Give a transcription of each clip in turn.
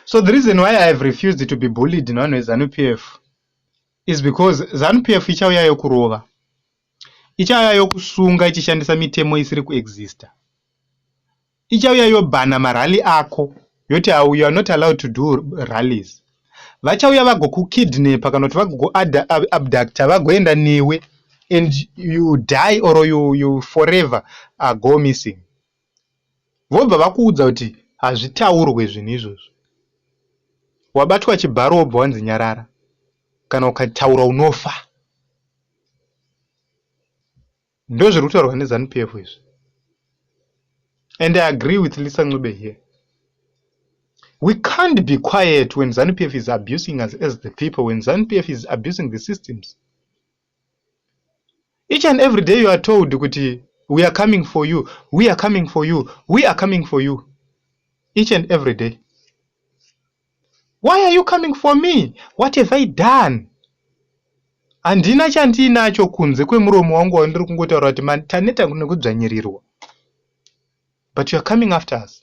So the reason why I have refused to be bullied nevanhu veZanu PF is because Zanu PF ichauya yokurova, ichauya yokusunga ichishandisa mitemo isiri kuexista, ichauya yobhana marally ako yoti awu you are not allowed to do rallies. Vachauya vagokukidnapa kana kuti vagokuabducta vagoenda newe and you die or you, you forever are go missing. vobva vakuudza kuti hazvitaurwe zvinhu izvozvo. Wabatwa chibharo wobva wanzi nyarara, kana ukataura unofa. Ndozviri kutaurwa neZanu PF izvi. And I agree with Lisa Ncube here. We can't be quiet when ZANU PF is abusing us as the people, when ZANU PF is abusing the systems. Each and every day you are told kuti we are coming for you, we are coming for you, we are coming for you. Each and every day. Why are you coming for me? What have I done? Handina chandiinacho kunze kwemuromo wangu wandiri kungotaura kuti man taneta nekudzvanyirirwa. But you are coming after us.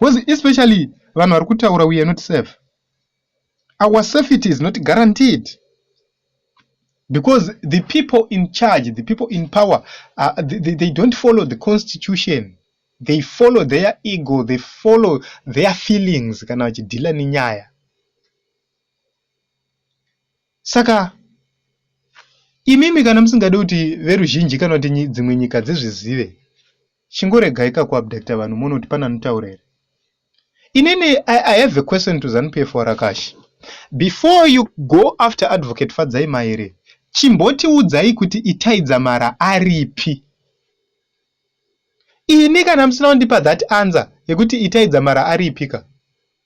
Because especially vanhu vari kutaura we are not safe. Our safety is not guaranteed. Because the people in charge, the people in power, uh, they, they don't follow the constitution. They follow their ego, they follow their feelings kana vachidhila nenyaya. Saka imimi kana musingade kuti veruzhinji kana kuti dzimwe nyika dzizvizive Chingoregaika ku abductor vanhu moona kuti pane anotaura here. Inini I, I have a question to ZanuPF Warakashi. Before you go after advocate Fadzai Maere, chimbotiudzai kuti Itai Dzamara aripi. Ini kana musina kundipa that answer yekuti Itai Dzamara aripika.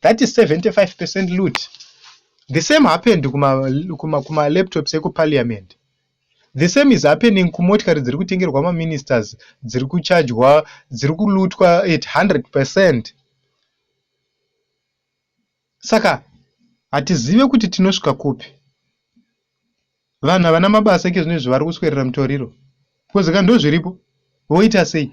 that is 75 percent loot the same happened kuma, kuma, kuma laptops ekuparliament the same is happening kumotikari dziri kutengerwa maministers dziri kuchajwa dziri kulutwa at 100 percent saka hatizive kuti tinosvika kupi vanhu havana mabasa ike zvino izvi vari kuswerera mutoriro because ka ndozviripo voita sei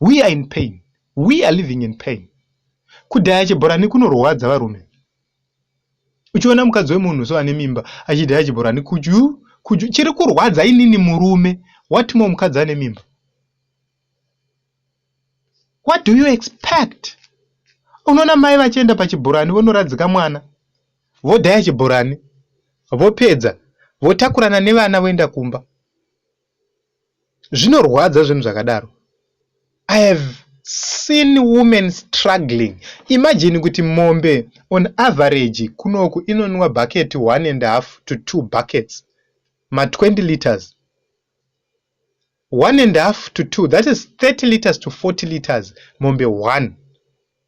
We are in pain. We are living in pain. Kudhaya chibhorani kunorwadza varume. Uchiona mukadzi wemunhu so ane mimba achidhaya chibhorani kudyu kudyu chiri kurwadza inini murume what more mukadzi ane mimba. What do you expect? Unoona mai vachienda pachibhorani vonoradzika mwana vodhaya chibhorani vopedza votakurana nevana voenda kumba. Zvinorwadza zvinhu zvakadaro. I have seen women struggling. Imagine kuti mombe on average kunoku inonwa bucket one and half to two buckets. Ma 20 liters. One and half to two, that is 30 liters to 40 liters mombe one.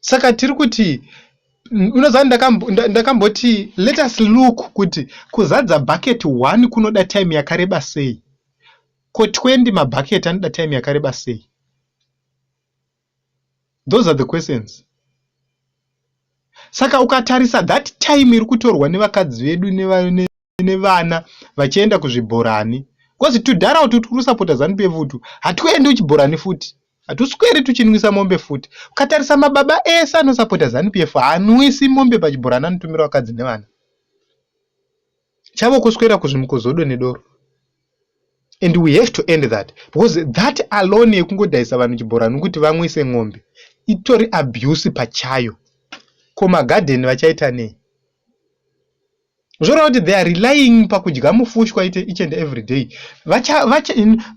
saka tiri kuti unoziva ndakamboti let us look kuti kuzadza bucket one kunoda time yakareba sei ko 20 mabucket anoda time yakareba sei those are the questions saka ukatarisa that time iri kutorwa nevakadzi vedu nevana vachienda kuzvibhorani because tudhara utu turi kusapota zanu pf utu hatuendi kuchibhorani futi hatusweri tuchinwisa mombe futi ukatarisa mababa ese anosapota zanu pf haanwisi mombe pachibhorani anotumira vakadzi nevana chavo kuswera kuzvimuko zodo nedoro and we have to end that because that alone yekungodhaisa vanhu chibhorani kuti vamwise n'ombe itori abuse pachayo ko magadheni vachaita nei zvoreva kuti they are relying pakudya mufushwa ite each and every day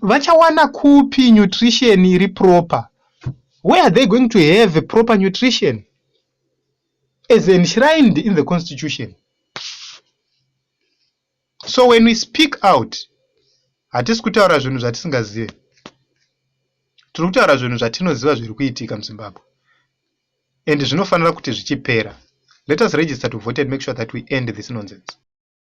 vachawana kupi nutrition iri proper where are they going to have proper nutrition as enshrined in the constitution so when we speak out hatisi kutaura zvinhu zvatisingazive tiri kutaura zvinhu zvatinoziva zviri kuitika muzimbabwe and zvinofanira kuti zvichipera let us register to vote and make sure that we end this nonsense.